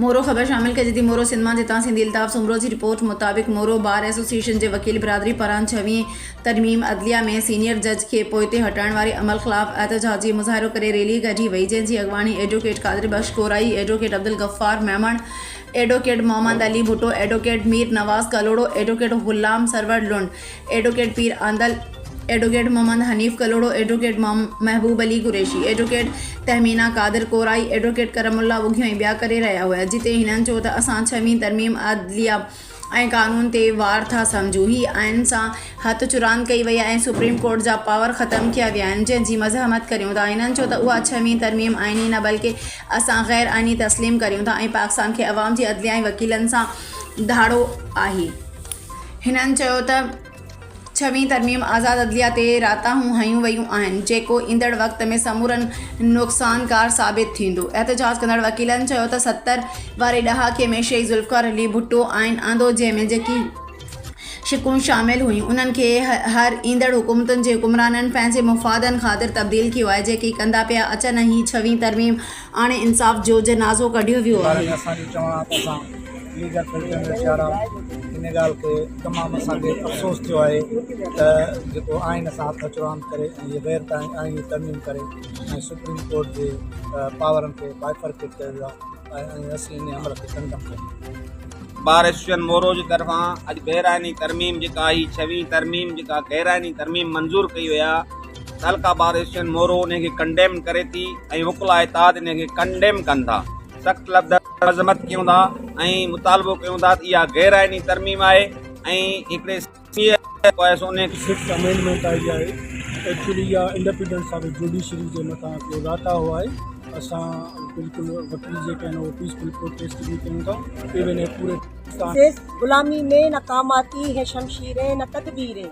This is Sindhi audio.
مورو، خبر شامل ڪجي ٿي مورو سنڌ مان جتان سنڌي الطاف سومرو جي رپورٽ مطابق مورو بار ايسوسيئيشن جي وڪيل برادري پاران ڇويهين ترميم عدليه ۾ سينيئر جج کي پوئتي هٽائڻ واري عمل خلاف احتجاجي مظاهرو ڪري ريلي ڪڍي وئي جنهن جي اڳواڻي advocate Qadir Bakhsh Gorai advocate Abdul Ghaffar Memon advocate Muhammad Ali Bhutto advocate Mir Nawaz Kalhoro advocate Ghulam Sarwar Lund advocate Pir Andal, advocate Muhammad Hanif Kalhoro, advocate Mehboob Ali Qureshi, advocate Tahmina Qadir Korai, advocate Karam Allah Wighio ۽ ٻيا ڪري رهيا هيا جتي هنن چيو ته اسان ڇهين ترميم عدليه ۽ قانون تي وار ٿا سمجهون، هي آئين سان هٿ چراند ڪئي وئي آهي ۽ سپريم ڪورٽ جا پاور ختم ڪيا ويا آهن جنهن جي مزاحمت ڪريون ٿا، هنن چيو ته اها ڇهين ترميم آئيني نه بلڪه اسان غير آئيني تسليم ڪريون ٿا ۽ پاڪستان کي عوام جي عدليه ۽ وڪيلن سان ڌاڙو آهي. هنن چيو ته ڇوين ترميم آزاد عدليه تي راتاهون هنيون ويون آهن، جيڪو ايندڙ وقت ۾ سمورن نقصانڪار ثابت ٿيندو. احتجاج ڪندڙ وڪيلن چيو ته ستر واري ڏهاڪي ۾ شهيد ذوالفقار علي ڀٽو آئين آندو جنهن ۾ جيڪي شقون شامل هيون انهن کي هر ايندڙ حڪومتن جي حڪمرانن پنهنجي مفادن خاطر تبديل ڪيو آهي جيڪي ڪندا پيا اچن ۽ هي ڇوين ترميم آڻي انصاف جوجنازو ڪڍيو ويو آهي. ناظرين اسان جو چوڻ آ ته اسان ليگل فلٽرن جو شعار آهيون ان ڳالهه کي تمام اسان کي افسوس ٿيو آهي ته جيڪو آئين اسان هٿ اچ راند ڪري ۽ هي غير آئيني ترميم ڪري ۽ سپريم ڪورٽ جي پاورن کي بائفرڪيٽ ڪيو ويو آهي ۽ اسين انهي عمل کي ڪنڊم ڪيون. بار ايسوسيئن مورو جي طرفان اڄ غير آئيني ترميم جيڪا هي ڇوين ترميم جيڪا غير آئيني ترميم منظور ڪئي وئي آ. تعلقه بار ايشين مورو انهي کي ڪنڊيم ڪري ٿي ۽ وڪلا اتحاد انهي کي ڪنڊيم ڪن ٿا سخت لفظن ۾ مذمت ڪيون ٿا ۽ مطالبو ڪيون ٿا ته اها غير آئيني ترميم آهي ۽ هڪڙي سياسي حڪومت آهي سو انهي کي سڪس امينڊمينٽ آهي جي آهي ايڪچولي اها انڊپينڊنس آف جوڊيشري جي مٿان هڪڙو راتا هو آهي اسان بلڪل وڪيل جيڪي آهن اهي پيسفل پروٽيسٽ به ڪيون ٿا ايون هي پوري پاڪستان. سيس غلامي مين اقاماتي هي شمشيرين نه تدبيرين.